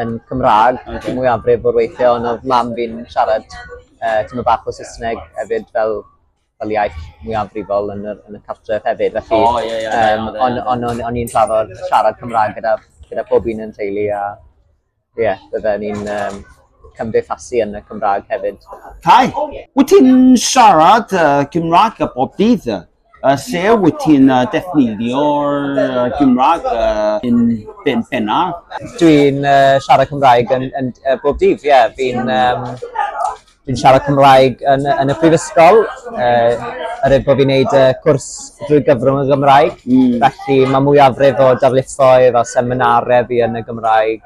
yn Cymraeg okay. mwyafrif o'r weithiau, ond oedd mam fi'n siarad uh, tymor bach o Saesneg hefyd fel, fel iaith mwyafrifol yn y, yn y cartref hefyd. Felly, oh, yeah, yeah, um, ond on, on, on i'n trafod siarad Cymraeg gyda, gyda pob un yn teulu a ie, yeah, byddwn ni'n um, cymdeithasu yn y Cymraeg hefyd. Cai, wyt ti'n siarad uh, Cymraeg a bob dydd? Lle wyt ti'n defnyddio'r Gymraeg yn bennar? Dwi'n siarad Cymraeg yn yn yy bob dydd ie fi'n yym dwi'n siarad Cymraeg yn yy yn y prifysgol yy er ei bo' fi'n neud y cwrs drwy gyfrwng y Gymraeg... Hmm. ...felly ma' mwyafrif o darlithoedd a seminare fi yn y Gymraeg.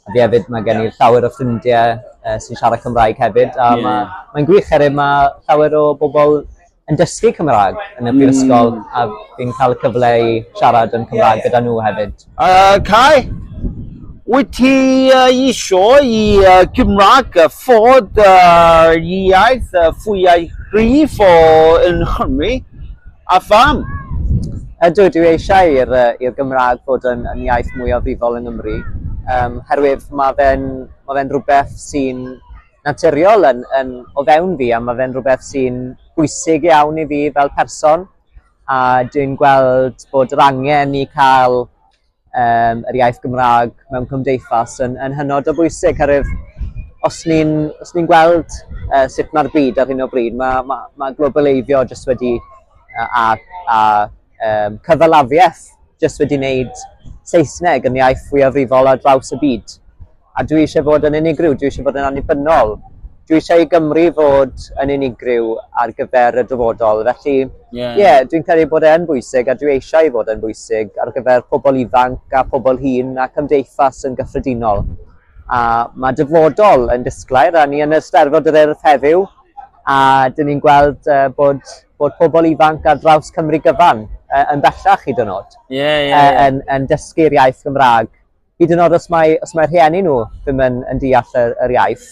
A fi hefyd ma' gen i llawer o ffrindie yy sy'n siarad Cymraeg hefyd a ma'... Ie. ...mae'n gwych oerwydd ma' llawer o bobol yn dysgu Cymra'g yn y brifysgol... Hmm. ...a fi'n ca'l y cyfle i siarad yn Cymra'g gyda nhw hefyd. Yy Cai, wyt ti yy isio i yy Cymra'g yy fod yr iaith yy fwya' cryf o yn Nghymru? A pham? Ydw, dwi eisiau i'r yy i'r Gymraeg fod yn yn iaith mwyafrifol yng Nghymru yym herwydd ma' fe'n ma' fe'n rhywbeth sy'n naturiol yn yn o fewn fi a ma' fe'n rhywbeth sy'n bwysig iawn i fi fel person a dwi'n gweld bod yr angen i ca'l um, yr iaith Gymraeg mewn cymdeithas yn, yn hynod o bwysig, herwydd os ni'n ni, gweld uh, sut mae'r byd ar hyn o bryd, mae, ma, ma globaleiddio jyst wedi uh, a, a um, cyfalafiaeth jyst wedi wneud Saesneg yn iaith fwyafrifol ar draws y byd. A dwi eisiau bod yn unigryw, dwi eisiau bod yn annibynnol. Dwi eisiau i Gymru fod yn unigryw ar gyfer y dyfodol. Felly, ie, yeah. yeah, dwi'n credu bod e'n bwysig a dwi eisiau i fod yn bwysig ar gyfer pobl ifanc a pobl hŷn a cymdeithas yn gyffredinol. A mae dyfodol yn disglair a ni yn y Steddfod yr Urdd heddiw a dyn ni'n gweld uh, bod, bod pobl ifanc ar draws Cymru gyfan uh, yn bellach hyd yn oed. Ie, ie, ie. Yn, yn dysgu'r iaith Gymraeg Hyd yn oed os mae, os mae rhieni nhw ddim yn, yn deall yr, yr iaith.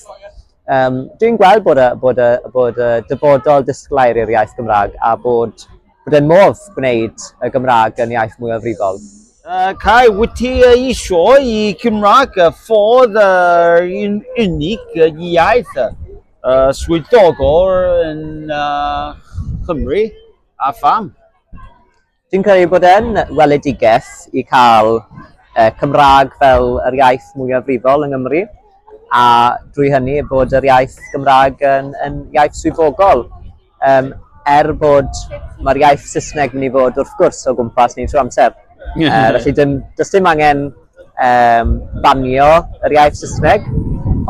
Um, Dwi'n gweld bod y, bod, y, bod y dyfodol disglair i'r iaith Gymraeg a bod, bod yn modd gwneud y Gymraeg yn iaith mwy o frifol. Uh, Cai, wyt ti isio i Cymraeg ffordd uh, yn unig iaith uh, swyddogol yn uh, Cymru a pham? Dwi'n credu bod e'n weledigaeth i cael uh, Cymraeg fel yr iaith mwyafrifol yng Nghymru a drwy hynny bod yr iaith Gymraeg yn, yn iaith swyddogol. Um, er bod mae'r iaith Saesneg mynd i fod wrth gwrs o gwmpas ni trwy amser. uh, felly dim, does dim angen yym banio yr iaith Saesneg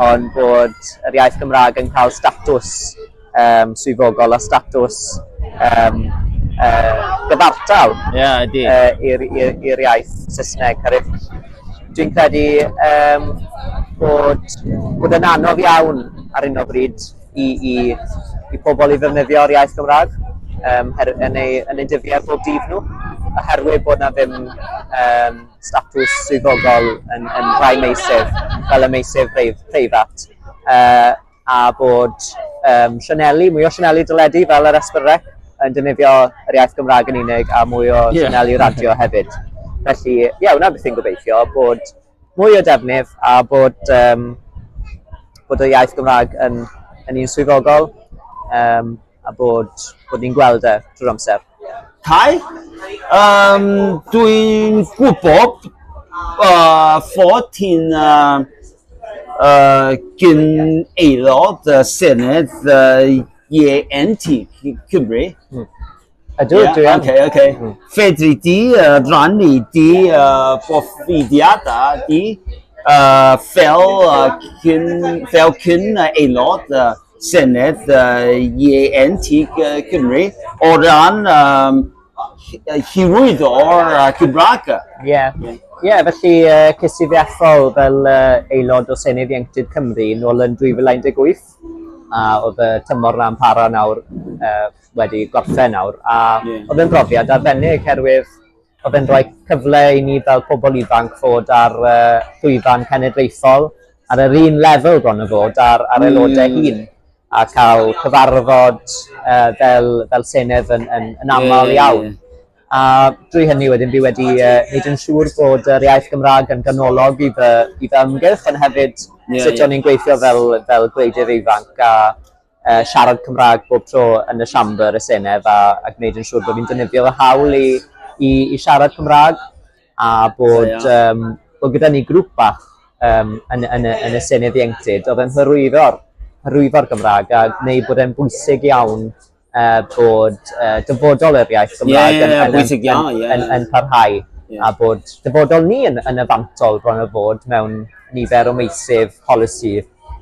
ond bod yr iaith Gymraeg yn cael statws yym swyddogol a statws yym yy gyfartal... Ie ydi. ...yy i'r i'r i'r iaith Saesneg oherwydd dwi'n credu yym bod bod e'n anodd iawn ar hyn o bryd i i i pobl i ddefnyddio'r iaith Gymraeg yym her- yn eu yn eu dyddiau bob dydd nhw oherwydd bod 'na ddim yym statws swyddogol yn yn rhai meysydd fel y meysydd brei- preifat yy a bod yym sianeli mwy o sianeli deledu fel yr Esbyrne yn defnyddio yr iaith Gymraeg yn unig a mwy o... Ie. ...sianeli radio hefyd. Felly ie wnna beth fi'n gobeithio bod mwy o defnydd a bod yym bod y iaith Gymraeg yn yn un swyddogol yym a bod bod ni'n gweld e trwy'r amser. Cai? Um, Dwi'n gwybod uh, fod ti'n uh, uh, gyn aelod y Senedd uh, IENT Cymru. Hmm. Ydw, yeah, dwi am. Okay, okay. Hmm. Fedri di uh, rannu di uh, profidiadau di uh, fel, uh, cyn, fel cyn aelod uh, Senedd Ieuenctid Cymru o ran hyrwyddo'r Gymraeg. Ie, ie, felly ces i fy ethol fel aelod o Senedd Ieuenctid Cymru nôl yn 2018, a oedd y tymor 'na'n para nawr, wedi gorffen nawr, a oedd e'n brofiad arbennig, oherwydd Mae fe'n rhoi cyfle i ni fel pobl ifanc fod ar y llwyfan cenedlaethol ar yr un lefel bron a bod â'r â'r aelodau hmm. hŷn a cael cyfarfod uh, fel, fel Senedd yn, yn, yn aml iawn. A drwy hynny wedyn fi wedi uh, wneud yn siŵr bod yr iaith Gymraeg yn ganolog i fy, i fy ymgyrch, ond hefyd yeah, sut yeah. o'n i'n gweithio fel, fel gwleidydd ifanc a yy siarad Cymra'g bob tro yn y Siambr y Senedd a a gwneud yn siŵr bo' fi'n defnyddio fy hawl i i i siarad Cymra'g a bod yym bo' gyda ni grŵp bach yym yn y yn y yn y Senedd Ieuenctid odd e'n hyrwyddo'r hyrwyddo'r Gymra'g a gneud bod e'n bwysig iawn yy bod yy dyfodol yr iaith Gymra'g... Ie ie ie bwysig iawn ie ie. ...yn yn parhau a bod dyfodol ni yn yn y fantol bron a fod mewn nifer o meysydd polisi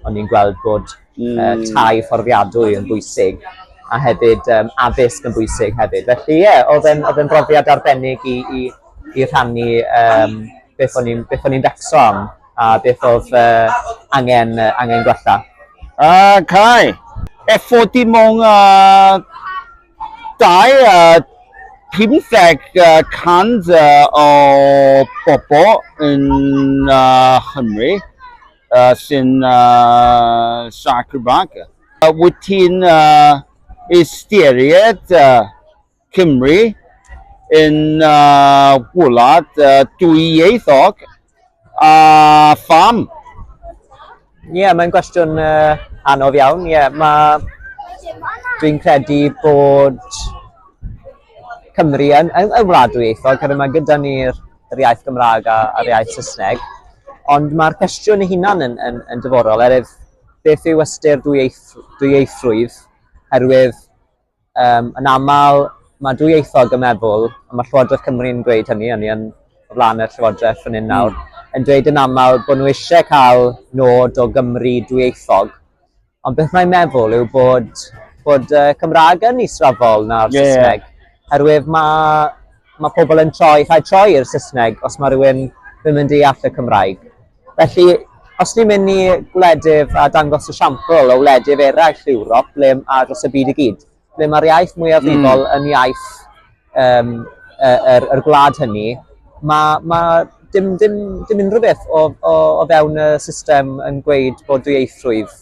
o'n ni'n gweld bod yy tai fforddiadwy yn bwysig a hefyd yym addysg yn bwysig hefyd felly ie odd e'n odd e'n brofiad arbennig i i i rhannu yym beth o'n i'n beth o'n i'n becso am a beth odd yy angen yy angen gwella. Uh, Kai, effort dim ond uh, dau uh, 50 uh, cant uh, o bobl yn uh, Chymru. uh, sy'n uh, sac y bag. Uh, wyt ti'n uh, ystyried uh, Cymru yn uh, wlad uh, dwyieithog a pham? Ie, yeah, mae'n gwestiwn uh, anodd iawn. Ie, yeah, mae... Dwi'n credu bod Cymru yn, yn, yn wlad dwyieithog, oherwydd mae gyda ni'r yr iaith Gymraeg a, a'r iaith Saesneg. Ond mae'r cwestiwn ei hunan yn, yn, yn dyforol, erif beth yw ystyr dwyieithrwydd, herwydd um, yn aml mae dwyieithog yn meddwl, a mae Llywodraeth Cymru'n dweud hynny, hynny yn o flaen y Llywodraeth yn un nawr, mm. yn dweud yn aml bod nhw eisiau cael nod o Gymru dwyieithog, Ond beth mae'n meddwl yw bod, bod uh, Cymraeg yn israfol na'r yeah. Saesneg. Herwydd mae, mae pobl yn troi, rhaid troi i'r Saesneg os mae rhywun ddim yn deall y Cymraeg. Felly, os ni'n mynd i gwledydd a dangos y siampl o wledydd eraill Ewrop, ble a dros y byd i gyd, ble mae'r iaith mwyafrifol mm. yn iaith um, yr, er, er gwlad hynny, mae ma dim, dim, dim unrhyw beth o, o, o fewn y system yn gweud bod dwyieithrwydd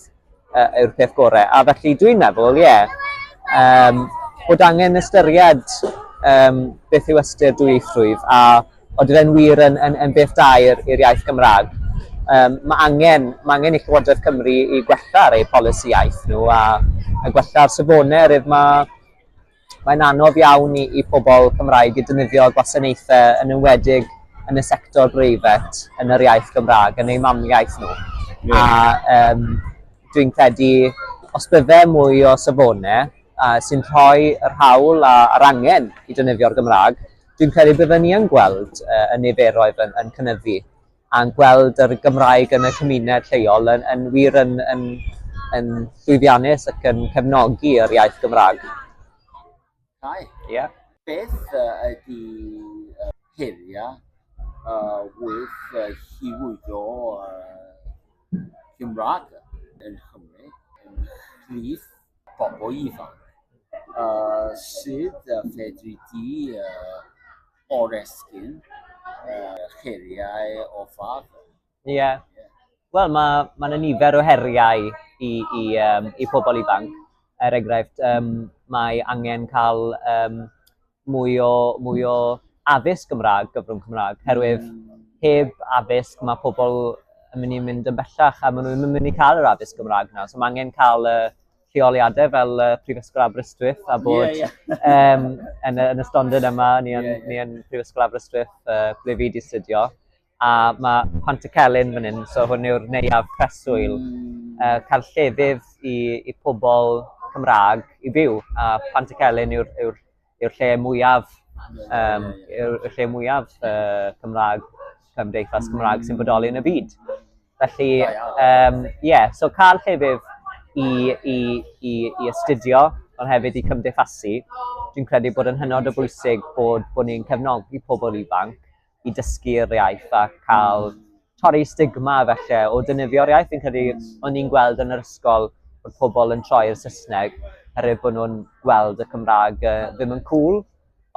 uh, yw'r peth gorau. A felly dwi'n meddwl, ie, yeah, um, bod angen ystyried um, beth yw ystyr dwyieithrwydd a Ond bydd e'n wir yn, yn, yn beth da i'r iaith Gymraeg. Um, mae, angen, mae angen i Llywodraeth Cymru i gwella ar eu polisi iaith nhw a, a gwella ar safonau rydw mae mae'n anodd iawn i, i pobl Cymraeg i dynyddio gwasanaethau yn enwedig yn y sector breifat yn yr iaith Gymraeg, yn eu mamiaith nhw. Yeah. A um, dwi'n credu, os bydde mwy o safonau uh, sy'n rhoi yr hawl a'r angen i dynyddio'r Gymraeg, Dwi'n credu bydden ni yn gweld y y niferoedd yn yn cynyddu a'n gweld yr Gymraeg yn y cymuned lleol yn yn wir yn yn yn llwyddiannus ac yn cefnogi yr iaith Gymrâg. Cai. Ia. Beth yy ydi yy heria yy wrth yy hywyo yy Cymrâg yn Nghymru ymhlith bobl ifanc, yy sut yy fedri di yy oresgyn yy heriau o fath? Ie. Yeah. Wel, mae ma yna nifer o heriau i, i, um, i pobl ifanc. Er enghraifft, um, mae angen cael um, mwy o, mwy o addysg Gymraeg, gyfrwng Cymraeg, herwydd mm. heb addysg mae pobl yn mynd i mynd yn bellach a maen nhw'n mynd i cael yr addysg Gymraeg nawr. So mae angen cael uh, lleoliadau fel uh, Prifysgol Aberystwyth a bod yeah, yeah. um, yn, yn y stondin yma, ni yn, yeah, yeah. Ni yn Prifysgol Aberystwyth uh, ble fi wedi studio. A mae Pant y Celyn fan hyn, so hwn yw'r neuadd preswyl. Uh, cael llefydd i, i pobl Cymraeg i byw. A Pant y Celyn yw'r yw yw lle mwyaf, um, yw'r lle mwyaf uh, Cymraeg, cymdeithas Cymraeg sy'n bodoli yn y byd. Felly, ie, um, yeah, so cael llefydd i, i, i, i astudio, ond hefyd i cymdeithasu. Dwi'n credu bod yn hynod o bwysig bod, bod ni'n cefnogi pobl ifanc i dysgu'r iaith a cael torri stigma falle o dynyddio'r iaith. Fi'n credu mm. o'n i'n gweld yn yr ysgol bod pobl yn troi'r Saesneg herwydd bod nhw'n gweld y Cymraeg uh, ddim yn cool.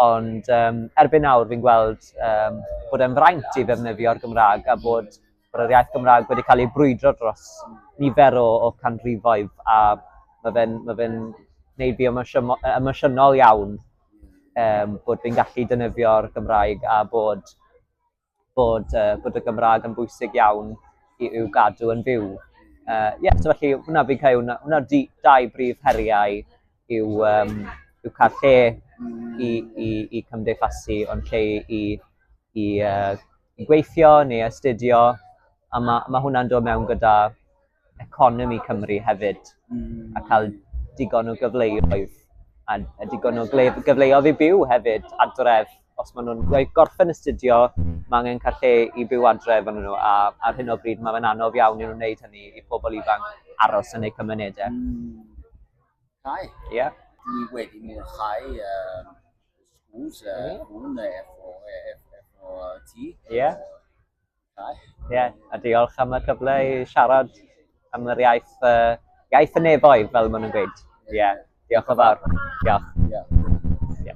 Ond um, erbyn nawr fi'n gweld um, bod e'n fraint i ddefnyddio'r Gymraeg a bod Mae yr iaith Gymraeg wedi cael ei brwydro dros nifer o, o canrifoedd a mae fe'n ma fe gwneud fi emosiynol iawn um, bod fi'n gallu dynyfio'r Gymraeg a bod, bod, uh, bod y Gymraeg yn bwysig iawn i i'w gadw yn fyw. Ie, uh, yeah, so felly hwnna fi'n cael, hwnna, hwnna dau brif heriau yw, um, yw cael lle i, i, i cymdeithasu, ond lle i, i, i, uh, i gweithio neu astudio, a mae ma hwnna'n dod mewn gyda economi Cymru hefyd, mm. a cael digon o gyfleoedd, a, a digon o gyfleoedd i byw hefyd adref, os maen nhw'n gorffen astudio, mae angen cael lle i byw adref yn nhw, a ar hyn o bryd mae'n anodd iawn i nhw'n wneud hynny i pobl ifanc aros yn eu cymunedau. Mm. Cai? Ie. Dwi wedi mwynhau um, schools, uh, hwn efo, efo ti. Ie. Cai? Ie, a diolch am y cyfle i siarad am yr iaith, uh, iaith y nefoedd, fel maen nhw'n gweud. Ie, diolch o fawr. Diolch. Ie.